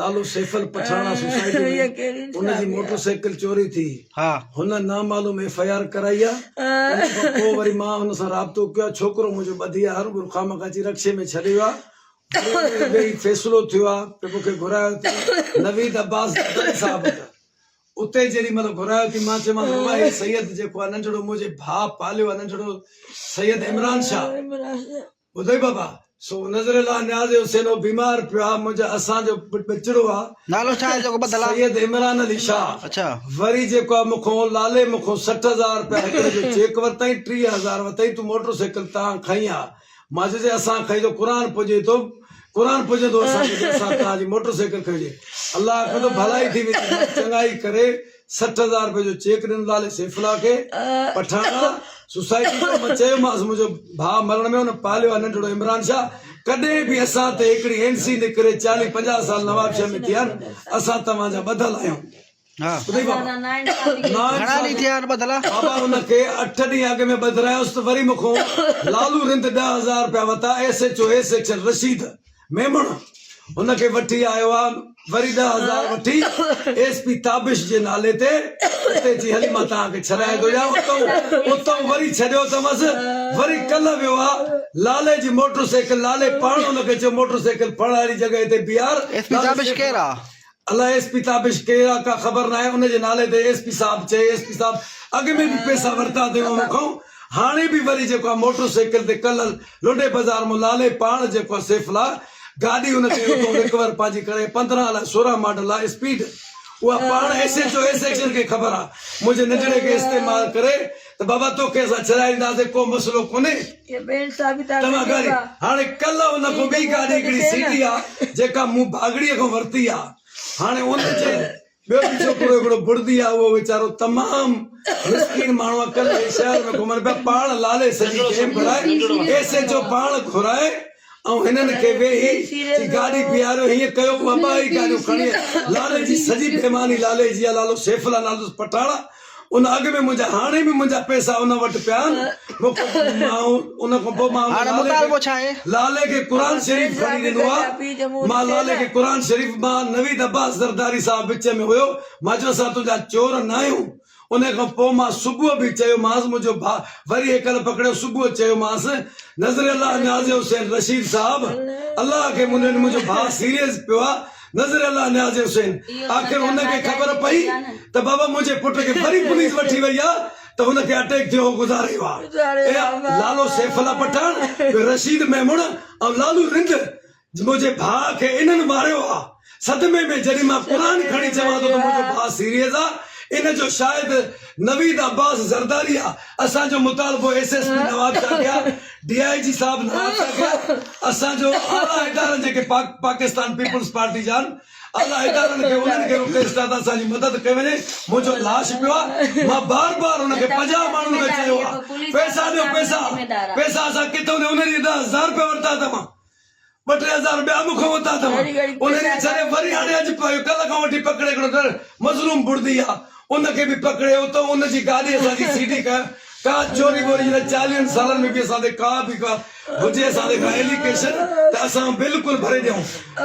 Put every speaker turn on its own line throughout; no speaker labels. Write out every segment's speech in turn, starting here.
لالو سيفل پٺاڻا سوسائٽي ۾ ان جي موٽر سائيڪل چوري ٿي هن
نامعلوم
ايف آء آر ڪرائي آهي ان کان پوء وري مان هن سان رابطو ڪيو آهي ڇوڪرو منهنجو ٻڌي آهي هر ڀور خامخواه اچي رڪشي ۾ ڇڏي ويو آهي ويهي فيصلو ٿيو آهي ته مون کي گهرايو ٿي نويد عباس جتائي صاحب وٽ اتي جيڏي مهل گهرايو ٿي مان چيومانس بابا هي سيد جيڪو آهي ننڍڙو منهنجي ڀاء پاليو آهي ننڍڙو سيد عمران شاهه ٻڌئي بابا، سو نظر الله نياز حسين اهو بيمار پيو آ، منهنجا اسان جو ٻچڙو آ، نالو ڇا آهي جيڪو بدل آ؟
سيد عمران علي شاهه،
اڇا. وري جيڪو
آ
مونکون لالي مونکون سٺ هزار رپيا هڪڙي جو چيڪ ورتائين، ٽيهه هزار وتائين تون موٽر سائيڪل تان کنئي آ، مان چيس جي اسان کنئي تو قرآن پڄي تو قرآن پڄندو اسان کي جي اسان تان جي موٽر سائيڪل کنئي هجي، الله آکيو ته ڀلائي ٿي ويندي، مان چڱائي ڪري. سٺ هزار روپيه جو چيڪ ڏنل نالي سيفالله کي پٺاڻا سوسائٽي جو مان چيومانس منهنجو ڀاء مرڻ ۾ هن پاليو آهي ننڍڙو عمران شاهه ڪڏهن به اسان تي هڪڙي اين سي نڪري چاليهه پنجاهه سال نوابشاهه ۾ ٿيا آهن اسان توهان جا ٻڌل آهيون ٻڌئي بابا گهڻا ڏينهن
ٿيا آهن ٻڌل بابا ان کي
اٺ ڏينهن اڳ ۾ ٻڌرايس ته وري مون کان لالو رند ڏهه هزار روپيا ورتا S H O S section Rashid Memon هن کي وٺي آيو آ وري ڏهه هزار وٺي ايس پي تابش جي نالي تي اتي چي هلي مان توهان کي ڇڏائي ٿو ڏيان اتئون اتئون وري ڇڏيو اٿمس وري ڪلهه ويو آ لالي جي موٽر سائيڪل لالي پاڻ هن کي چيو موٽر سائيڪل ڦڙ هاري جڳهه تي بيهار ايس پي تابش ڪير آ؟
الائي ايس پي تابش
ڪير آ ڪا خبر ناهي ان جي نالي تي ايس پي صاحب چئي ايس پي صاحب اڳ ۾ به پيسا ورتا تيون مون کان هاڻي به وري جيڪو آ موٽر سائيڪل تي ڪلل لنڊي بازار مون لالي پاڻ جيڪو آ سيف لا گاڏي ان تي اتو رڪور پنهنجي ڪري پندرهن الائي سورهن ماڊل آ اسپيڊ اها پاڻ S H O S action کي خبر آ منهنجي ننڍڙي کي استعمال ڪري ته بابا توکي اسان ڇڏائينداسين ڪو مسئلو ڪونهي توهان گاڏي هاڻي ڪلهه ان کان ٻي گاڏي هڪڙي سيٽي آ جيڪا مون ڀاڳڙي کان ورتي آ هاڻي ان جي ٻيو به ڇوڪرو هڪڙو بڙدي آ اهو ويچارو تمام مسڪين ماڻهو آ ڪلهه شهر ۾ گهمن پيا پاڻ لالي سڄي گيم ڪرائي ايس ايچ او پاڻ گهرائي آئون هنن کي ويهي جي گاڏي بيهاريو هيئن ڪيو هو اباهي گاڏيون کڻي لالي جي سڄي بيماني لالي جي آ لالو سيف الله نالو اٿس پٺاڻا ان اڳ ۾ منهنجا هاڻي به منهنجا پئسا ان وٽ پيا آهن مون کي ماڻهو ان کان پوء مان هاڻ مطالبو ڇا آهي لالي کي قرآن شريف کڻي ڏنو آ مان لالي کي قرآن شريف مان نويد عباس زرداري صاحب وچ ۾ هيو مان چيو اسان تنهنجا چور ناهيون انهيء کان پوء مان صبح به چيومانس، منهنجو ڀاء وري هيڪل پڪڙيو، صبح چيومانس، نذر الله نياز حسين رشيد صاحب، الله کي منين منهنجو ڀاء سيريز پيو آ، نذر الله نياز حسين، آخر هن کي خبر پئي ته بابا منهنجي پٽ کي وري پوليس وٺي وئي آ ته هن کي اٽيڪ ٿيو هو گذاريو آ اي لالو سيف الله پٺاڻ، رشيد ميمڻ ۽ لالو رند، منهنجي ڀاء کي انهن ماريو آ. صدمي ۾ جڏهن مان قرآن کڻي چوان ٿو ته منهنجو ڀاء سيريز آ ان جو شاهد نويد عباس زرداري آ. اسان جو مطالبو S S P Nawab Shah کي آ، ڊي آء جي صاحب نواب شاهه کي آ، اسان جو اعليٰ ادارن جيڪي پاڪ پاڪستان پيپلز پارٽي جا آهن اعليٰ ادارن کي انهن کي رڪويسٽ آ ته اسان جي مدد ڪئي وڃي، منهنجو لاش پيو آ مان بار بار ان کي پنجاهه ماڻهن کي چيو آ پئسا ڏيو پئسا، پئسا اسان ڪٿو ڏيون انهن ڏهه هزار رپيا ورتا ته مان. ٻه ٽي هزار ٻيا مون کان وتا اٿم انهن کي ڇڏي وري هاڻي اڄ پيو ڪلهه کان وٺي پڪڙي هڪڙو ڏر مظلوم بڙدي آ ان کي به پڪڙي اتو ان جي گاڏي اسان جي سي ڊي ڪا ڪا چوري ٻوري جڏهن چاليهن سالن ۾ به اسان تي ڪا به ڪا هجي اسان تي ڪا ايليڪيشن ته اسان بلڪل ڀري ڏيون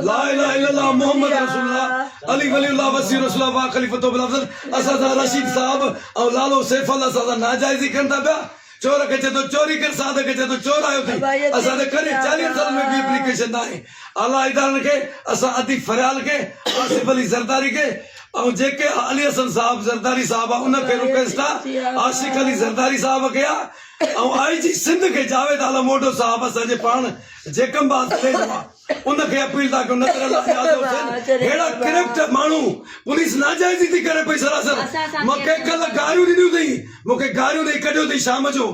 لا اله الا الله محمد رسول الله علي ولي الله وصي رسول الله واخليفته بالافضل اسان سان رشيد صاحب ۽ لالو سيف الله اسان سان ناجائزي ڪن ٿا پيا چور کي چئي ٿو چوري ڪر ساڌ کي چئي ٿو چور آيو ٿي اسان تي ڪڏهن چاليهن سالن ۾ ٻي اپليڪيشن ناهي اعليٰ ادارن کي اسان اديب فريال کي آصف علي زرداري کي ۽ جي ڪي آء علي حسن صاحب زرداري صاحب آء ان کي رڪويسٽ آء عاشق علي زرداري صاحب کي آء ۽ آء جي سنڌ کي جاويد عالم اوڍو صاحب اسان جي پاڻ جيڪم باز تليجو آء ان کي اپيل ٿا ڪيون نظر الله نياز جو حسين ههڙا ڪرپٽ ماڻهو پوليس ناجائزي ٿي ڪري پئي سراسر مان کي ڪلهه گاريون ڏنيون اٿئي مون کي گاريون ڏئي ڪڍيو اٿئي شام جو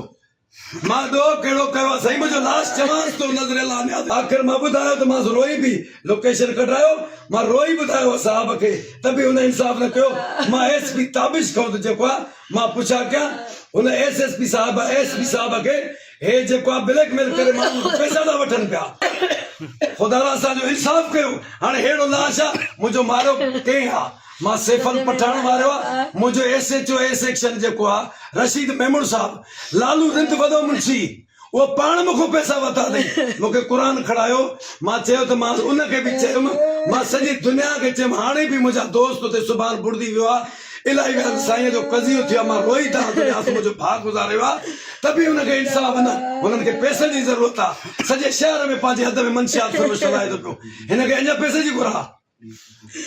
مان ڏوهه ڪهڙو ڪيو آهي سائين منهنجو لاش چوانس ٿو نظر الله نياز آخر مان ٻڌايو ته مانس روئي به لوڪيشن ڪڍرايو مان روئي ٻڌايو هو صاحب کي ته به هن انصاف نه ڪيو مان ايس پي تابش کان ته جيڪو آهي مان پڇا ڪيان هن ايس ايس پي صاحب ايس پي صاحب کي هي جيڪو آ بليڪ ميل ڪري ماڻهن کان پئسا ٿا وٺن پيا خدا را اسان جو انصاف ڪيو هاڻي ههڙو لاش آ منهنجو ماريو ڪنهن آ مان سيفل پٺاڻ ماريو آ منهنجو S H O A section جيڪو آ رشيد ميمڻ صاحب لالو رند وڏو منشي اهو پاڻ مون کان پئسا ورتا اٿئي مون کي قرآن کڻايو مان چيو ته مانس ان کي به چيم مان سڄي دنيا کي چيم هاڻي به منهنجا دوست اتي سبحان بڙدي ويو آ الائي ويان سائينء جو قضيو ٿيو مان روئي ٿا آن تنهنجي آسو منهنجو ڀاء گذاريو آ ته به هن کي انصاف نه هنن کي پئسن جي ضرورت آ سڄي شهر ۾ پنهنجي حد ۾ منشيات فروش هلائي ٿو پيو هن کي اڃا پئسن جي گهر آ.